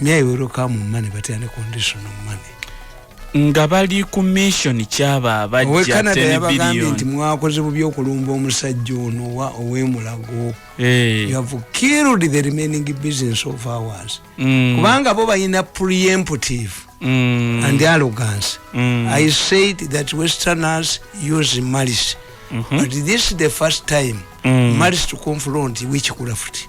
may we come money but any condition of money nga bali ku mission kyaba abajja television nti mwakoze bubi okulumba omusajja ono wa owemulago hey. Eh. you have killed the remaining business of ours mm. kubanga bo bayina preemptive mm. and arrogance mm. i said that westerners use malice mm -hmm. but this is the first time mm. malice to confront which kulafuti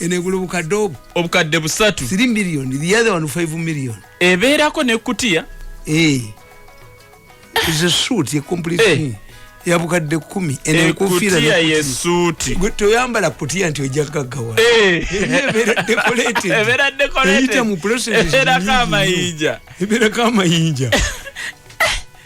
enegula obukadde obwo obukadde busatu 3 million the other one 5 million ebeerako nekutiya eh. is a suit a complete hey. Eh. ya bukadde kumi enenkufiira toyambala kutiya nti ojja kaggawa eh. ebeera dekoleteeyita mu pulosesiyita mu pulosesiyita ebeerako amayinja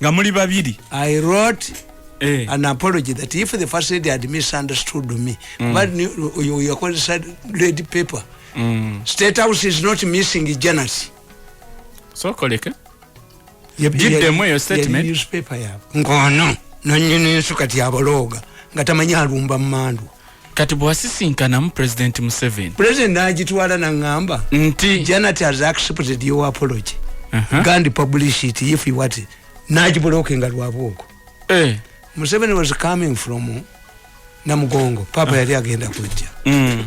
nga muli babiri i wrote eh. an apology that if the first lady had misunderstood me mm. but you, you call said lady paper mm. state house is not missing jealousy so koleke jiddemu eyo statement newspaper yabo ngono nanyini nsu kati abaloga nga tamanyi alumba mmandu kati bwasisinkanamu president museven president nagitwala nangamba nti janet has accepted your apology uh -huh. gandi publish it if you want it nagibuloke nga lwabwoko eh. museven was coming from namugongo papa uh. yali agenda kujja mm.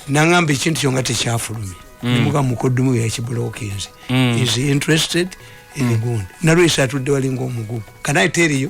nangamba ekintu kyo nga tekyafulumi mm. nimuga mukodumu yakibulokinze mm. is interested in mm. gun nalwesa atudde walinga omugugu kanaye teriyo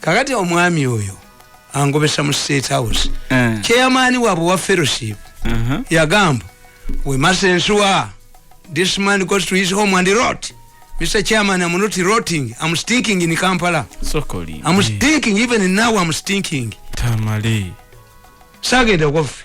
kakati omwami oyo angobesa mu state house eh. chairman wabwe wa fellowship uh-huh. yagamba we must ensure this man goes to his home and rot mr chairman am not rotting am stinking in kampala sokoli am stinking even now am stinking tamale sagenda kofi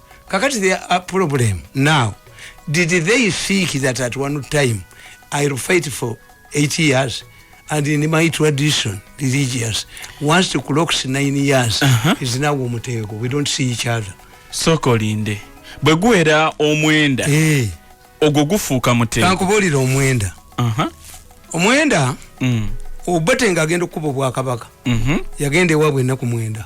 kakati the uh, problem now did they think that at one time i will fight for eight years and in my tradition religious once to clocks nine years uh -huh. is now omutego we don't see each other soko linde bwe guwera omwenda eh. ogwo gufuuka mutego kankubuulira omwenda uh -huh. omwenda mm. obate nga agenda okukuba obwakabaka mm -hmm. yagenda ewabwe ennaku mwenda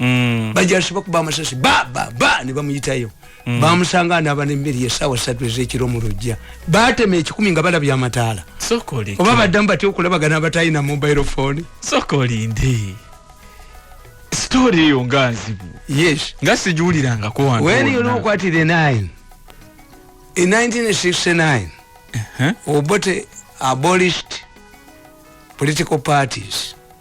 mm. bajasiba kuba amasasi ba ba ba ne bamuyitayo mm. bamusanga anaba nemmere yesaawa satu ezekiro mu lujja batema ekikumi nga balabye amataala oba baddamu batya okulabagana abatalina mobile phone sokolinde story eyo nga nzibu yes nga sijuwulirangako wantu when you look at the nine in 1969 uh -huh. obote abolished political parties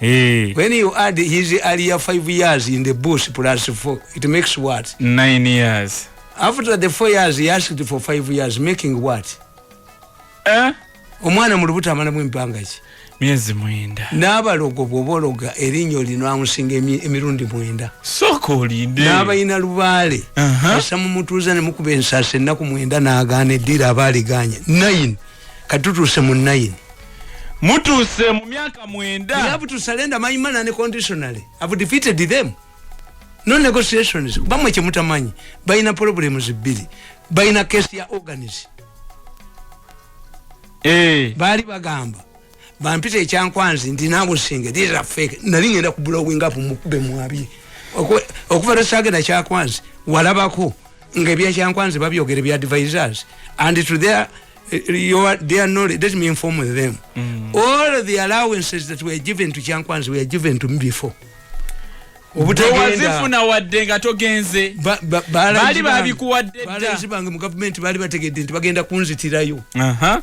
Hey. Eh. When you add his earlier five years in the bush plus four, it makes what? Nine years. After the four years, he asked for five years, making what? Eh? Omwana mu lubuto amalamu empanga ki? Myezi mwenda. N'abalogo bw'obologa erinnyo lino amusinga emirundi mwenda. Sooka olinde. N'abalina lubaale. Uh -huh. Esa mumutuuza ne mukuba ensasi ennaku mwenda n'agaana eddira abaaliganye. Nine. kati tutuuse mu nayini mutuuse mu myaka mwenda you have to surrender my man unconditionally i've defeated them no negotiations bamwe kyemutamanyi balina problems bbiri balina kesi ya organis hey. Eh. baali bagamba bampita ekyankwanzi ndi nabo singe these are fake nali ngenda ku blowing up mukube mwabi okuva lwe sagenda kyakwanzi walabako nga ebyakyankwanzi babyogera ebya advisors and to their eh, your their knowledge let me inform with them mm. all the allowances that were given to kyankwanzi were given to me before obutawazifuna wadde nga togenze baali babikuwadde dda baali bange mu gavumenti baali bategedde nti bagenda kunzitirayo uh -huh.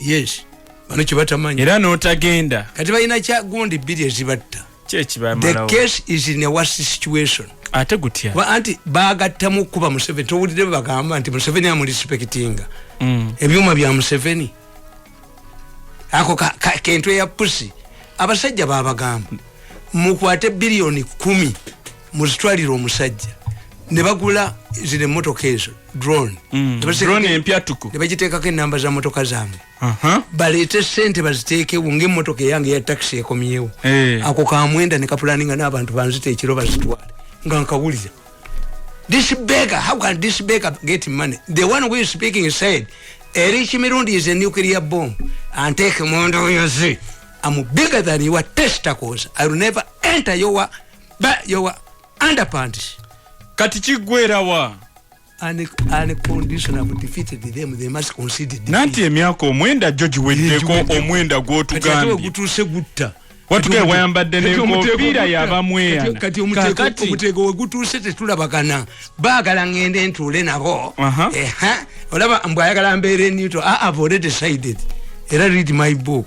yes bano kyebatamanya era notagenda kati balina kyagundi bbiri ezibatta the case is in a worse situation ate gutya kuba anti bagattamu okukuba museveni towulidde bwe bagamba nti museveni amurespectinga mm. ebyuma bya museveni ako kentu eya pusi abasajja babagamba mukwate biliyoni kumi muzitwalira omusajja ne bagula zino emmotoka ezo drone mm. empyatuku ne bagiteekako ennamba za mmotoka zaabwe baleete sente baziteekewo ngaemmotoka eyange ya takisi ekomyewo eh. ako kamwenda ne kapulani nga n'abantu banzita ekiro bazitwale nga nkawulira this begger how can this begger get money the one who is speaking said erich mirundi is a nuclear bomb and take mondo yozi i'm bigger than your testicles i will never enter your ba your underpants kati kigwerawa nanti emyaka omwenda gyo giweddeko omwenda gwotugambyegutuuse gutta watugaye wayambadde nenkofiira yabamweyanaomutego wegutuuse tetulabagana baagala ngende ntuule nabo olaba mbwayagala mbeere newto i have already decided era read my book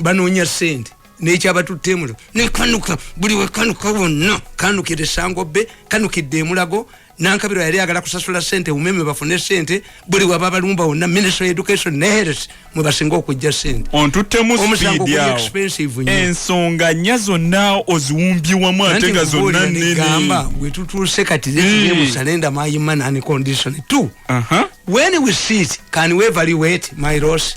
banoonya sente nekyabatutte emulo nekanuka buli wekanuka wonna kanukira esango be kanukidde emulago nankabiro yali agala kusasula sente umeme bafune sente buli waba balumba wonna ministry education neheres mwebasinga okujja sente ensonga nya zonna oziwumbiwamu ate nga zonna nenegamba wetutuuse kati musalenda mayima nani condition t when we sit can we evaluate my loss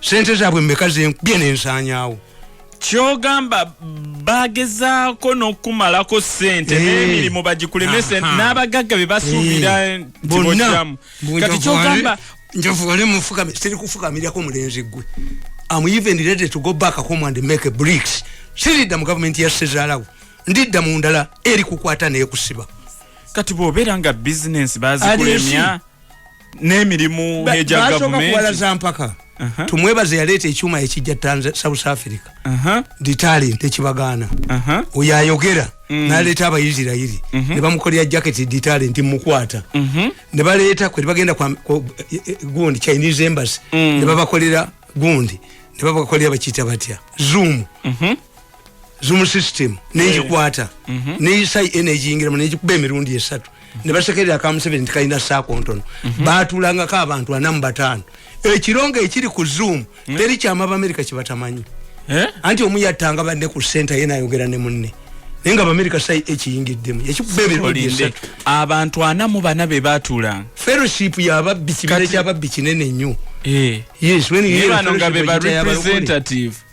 sente zaabwe meka zenkubye nensanyawo kyogamba bagezaako nokumalako sente eh. nemirimu bagikuleme sente n'abagagga bebasuubira eh. ntibokiramu kati kyogamba njavugale mufukame siri kufukamirako mulenzi gwe am even ready to go back home and make bricks siridda mu gavumenti ya sezalawo ndidda mu ndala eri kukwata nekusiba kati bwobeera nga bizinensi bazikulemya n'emirimu egya gavumentibasoka mpaka tumwebaze yaleeta ekyuma ekijja south africa ndi talent ekibagaana oyo ayogera mm. naleeta abaisirairi mhm. ne bamukolera jaketi ndi talent mukwata mhm. ne baleeta kwe bagenda e, e, gundi chinese embassy mm. ne babakolera gundi ne babakolera bakiyita batya zoom mhm. zoom system nejikwata mhm. neyisai enejingiramu nejikuba emirundi esatu nebasekerera akamuseveni nti kalina saako ntono mhm. batulangako abantu ana mu bataano ekirongo ekiri ku zoom mhm. teri kyama abamerika kibatamanyi eh? anti omu yattanga banne ku senta ye nayogera ne munne naye nga abamerika sai ekiyingiddemu ekikuba emirundi esatu abantu ana mu bana be batulanga fellowship yababbi kibira kyababbi kinene nnyo eh. yes when you hear fellowship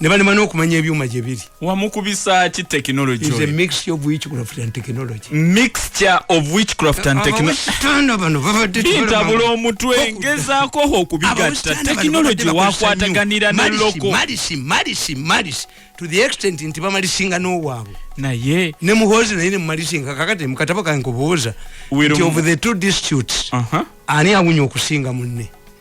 ne balema n'okumanya ebyuma gye biri wamukubisa ki technology is a mixture of witchcraft and technology mixture of witchcraft and technology bano babadde ntabula omutwe ngezaako ho okubigatta technology wakwataganira ne loko malisi malisi malisi to the extent nti bamalisinga n'owaabwe naye ne muhoozi naye ne mumalisinga kakati mukatabo kange kubuuza nti of the two disputes uh-huh. ani awunya okusinga munne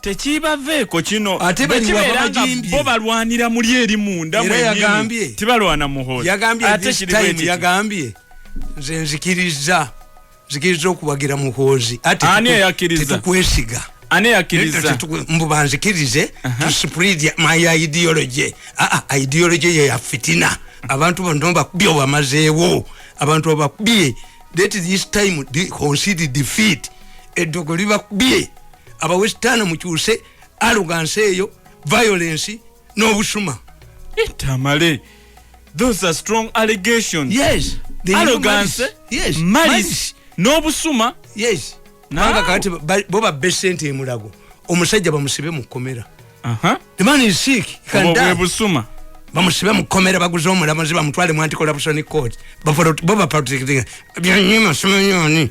tekibaveeko kino ate bo balwanira muli eri munda mwenyini tibalwana muhoozi yagambye nze nzikiriza nzikiriza okuwagira muhoozi ate tetukwesiga ani yakiriza mbu banzikirize to spread my ideology ah, ah, ideology ye ya fitina abantu bano bakubye obamazeewo abantu abakubye that this time concede defeat eddogo libakubye aba western mukyuse arrogance eyo violence n'obusuma eh, tamale those are strong allegations yes arrogance yes malice n'obusuma yes nanga kati bo babbe sente emulago omusajja bamusibe mu kkomera the man is sick bwebusuma bamusibe mu kkomera baguze omulamuzi bamutwale mu anticorruption court bo baprotectinga byanyuma simenyoni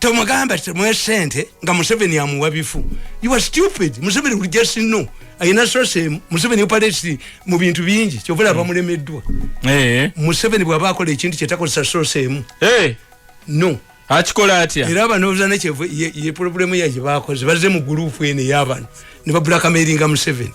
tomugamba temwe sente nga museveni amuwa bifu you are stupid museveni will just know ayina sose museveni upalesi mu bintu bingi kyovula hmm. abamulemeddwa eh. museveni bwaba akola ekintu kyetakozesa sose emu eh. no akikola atya era abanooza nekyevu ye problemu yaje bakoze baze mu gurupu ene yabano ne babulakameringa museveni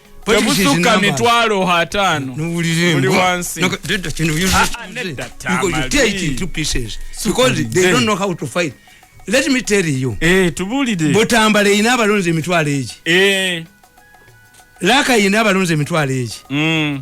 tebusuka mitwalo hataano buli wansi let me tell you eh tubulide botambala ina abalonze emitwalo egi eh laka ina abalonze emitwalo egi mm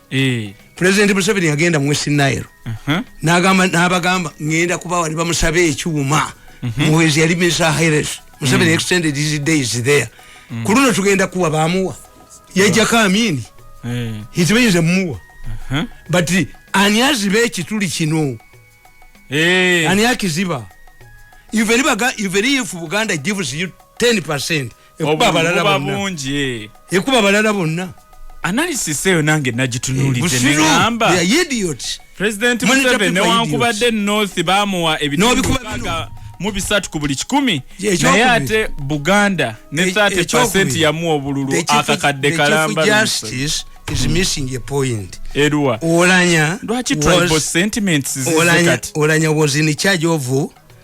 eh. president museveni yagenda mu west nile uh-huh. nagamba nabagamba ngenda kuba wali bamusaba ekyuma uh-huh. muwezi yali misa hires museveni mm. extended his days there mm. ku luno tugenda kuwa bamuwa yajjako amini eh. hitibayinza muwa uh-huh. but ani aziba ekituli kino eh. ani akiziba even if buganda gives you 10 percent ekuba abalala bonna eh. ekuba abalala bonna analysis eyo nange nagitunulidde eh, negamba president museveni newankubadde north bamuwa ebitnobikubaga mu bisatu ku buli kikumi naye ate buganda ne 30 e- percent yamuwa obululu akakadde kalamba is mm. missing a point erua olanya lwaki tribal sentiments zizikati olanya was in charge of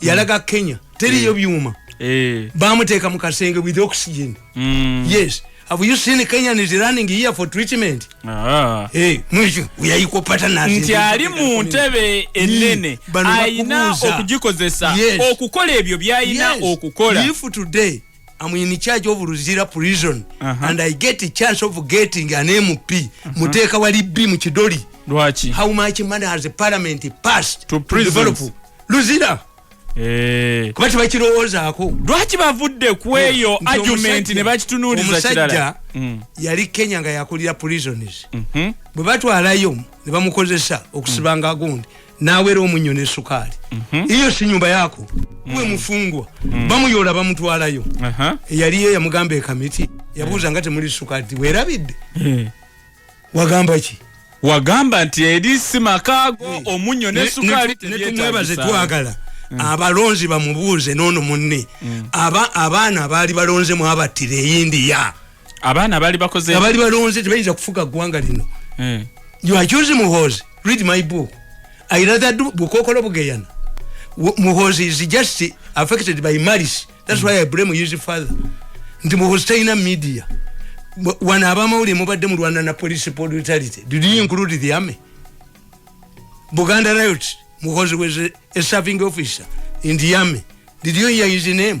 yalaga kenya teriyo eh. byuma eh. bamuteeka mu kasenge with oxygen mm. yes have you seen kenyan is running here for treatment ah. eh, nti ali mu ntebe enene alina okugikozesa okukola ebyo byalina okukola I'm in charge of Luzira prison uh -huh. and I get a chance of getting an MP uh -huh. muteka wali B mchidori Lwachi. how much money has the parliament passed to, to develop Luzira eh kuba tibakirowooza ako lwaki bavudde kweyo argument ne bakitunuuliza kirala mm. yali Kenya nga yakulira prisons mm -hmm. bwe batwalayo ne bamukozesa okusibanga mm. gundi nawera omunyo ne sukali mm -hmm. iyo si nyumba yako mm -hmm. uwe mfungwa mm -hmm. bamu yola bamu tuwala yo uh -huh. yali ye ya mugambe ya kamiti ya buza yeah. ngati muli sukali we rabid yeah. wagamba chi wagamba nti eri si makago yeah. omunyo ne sukali ne, ne, ne tumwebaze tuwagala mm. abalonzi bamubuuze nono munne mm. aba abaana baali balonze mu abatire eyindi ya abaana bali bakoze abali balonze tebayinza kufuga gwanga lino eh. you are choosing muhozi read my book i rather do bukokolo bugeyana muhozi is just affected by maris that's mm. why i blame his father nti muhozi talina media wano abamawuli mubadde mu rwanda na police politality did you include the army buganda riot muhozi was a, a serving officer in the army did you hear his name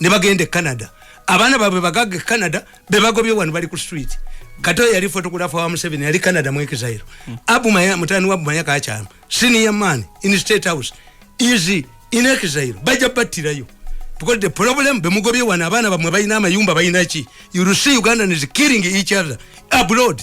ne bagenda e canada abaana baabwe bagaga e canada be bagobye wano bali ku street kato yali fotografa wa museveni yali canada mu exile hmm. abu maya mutani wa bumaya kakyama senior man in state house easy in exile bajja battirayo because the problem bemugobye wano abaana bamwe balina amayumba balina ki you see uganda is killing each other abroad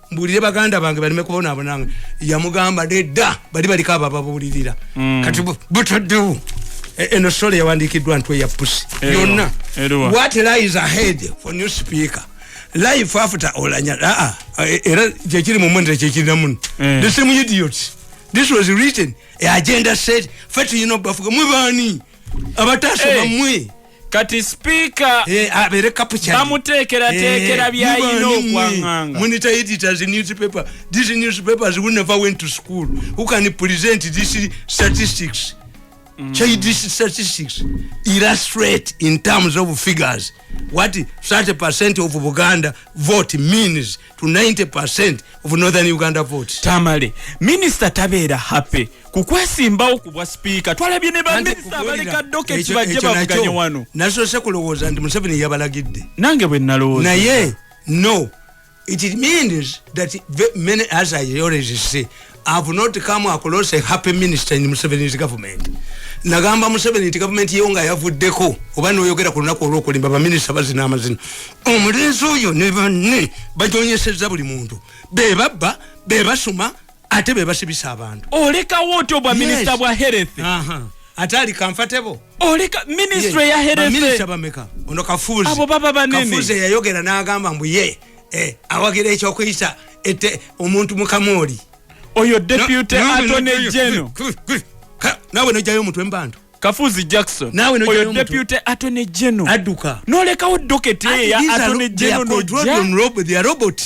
mbulire baganda bange balime kubonaabonanga yamugamba nedda bali baliko abo ababuulirira mm. kati butaddewo e, eno sole yawandiikiddwa ntu eya pusi yonna what lies ahead for new speaker life after olanya aa e, era kyekiri mu mwenera kyekirina muno eh. the same idiot this was written a agenda set fetuyina obafuga mwe baani abatasoma mwe kati sipiika eh, bamuteekerateekera eh, byayina okwanganga Mm. Childish statistics illustrate in terms of figures what 30% of Buganda vote means to 90% of northern uganda votes tamale minister tabeera happy kukwesimbawo kubwa speaker twalabye ne baminista abaleka doka ekibajje bavuganye wano nasoose kulowooza nti museveni yabalagidde nange bwe nalowooza naye no it means that many as i already say have not come across a happy minister in Museveni's government. Nagamba Museveni nti government ye nga yavuddeko oba n'oyogera ku lunaku olw'okulimba baminisita bazina amazina. Omulenzi oyo ne banne bajonyesezza buli muntu. Be babba, be basuma, ate be basibisa abantu. Olekawo otyo bwa minisita yes. bwa health. Aha. Uh -huh. ate ali comfortable oleka ministry ya herese minister bameka ono kafuzi abo baba banene kafuzi yayogera nagamba mbuye eh, awagira ekyokuyisa ete omuntu mukamooli oyo deputy attorney general nawe nojayo omutwe mubantu kafuzi jackson nawe oyo deputy attorney general aduka nolekawo docket ye ya attorney general no drone robot they are robot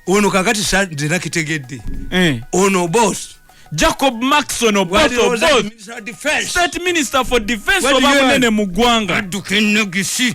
ono kakati sa ndina kitegedde eh. ono boss jacob maxon oboth state minister for defense obamunene mu ggwanga aduka enogisi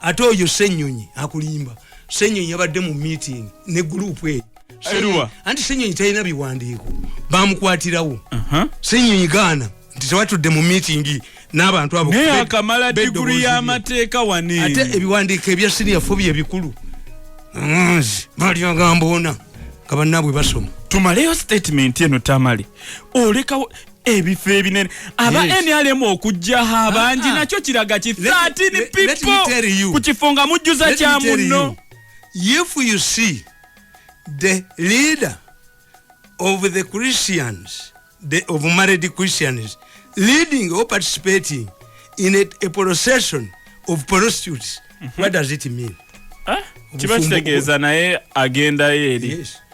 ate oyo senyonyi akulimba senyonyi yabadde mu meeting ne group eyo seruwa anti senyonyi talina biwandiiko bamukwatirawo senyonyi gaana nti tewatudde mu meeting n'abantu abo naye akamala diguri y'amateeka wani ate ebiwandiiko ebya siniya fo bye bikulu nzi bali agamba ona nga bannaabwe basoma tumaleyo statement eno tamale olekawo ebifo ebinene aba yes. nrm okujjaho abangi ah, ah. nakyo kiraga ki 13 people ku kifo nga mujjuza kya munno if you see the leader of the christians the, of married christians leading or participating in a, a procession of prostitutes mm -hmm. what does it mean eh? kiba kitegeeza naye agendayo eri yes.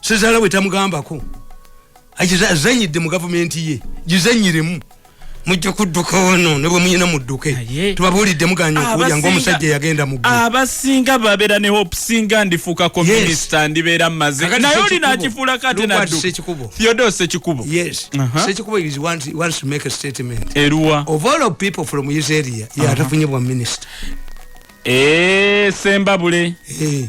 sezala we tamugambako azanyidde mu gavumenti ye gizanyiremu mujja kudduka wano ne bwe muyina mudduke tubabuulidde muganya okuwulya ngaomusajja yagenda mu abasinga babeera ne hope singa ndifuuka ko minisita ndibeera mumaze naye olina akifuula kate naddu theodore sekikubo yes uh-huh. sekikubo is want, wants to make a statement eruwa of all of people from his area yatafunye uh-huh. bwa minisita ee eh, sembabule ee eh.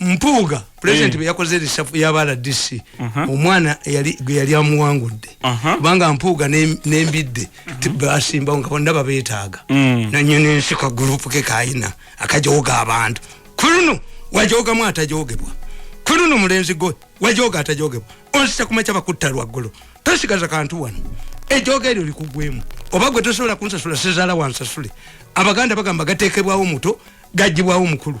mpuuga pulezidenti eh. bwe yakoze risafu yaba rdc uh-huh. omwana gwe yali amuwangudde uh-huh. kubanga mpuuga n'embidde uh-huh. basimbawo nga bonna babeetaaga mm. nanyo nensi ka gurupu ke kayina akajooga abantu kuluno wajoogamu atajoogebwa kuluno mulenzi gwe wajooga atajoogebwa onsisa kumakya bakutta lwaggulu tosigaza kantu wano ejooga eryo likugwemu oba gwe tosobola kunsasula sizaala wansasule abaganda bagamba gateekebwawo muto gajjibwawo mukulu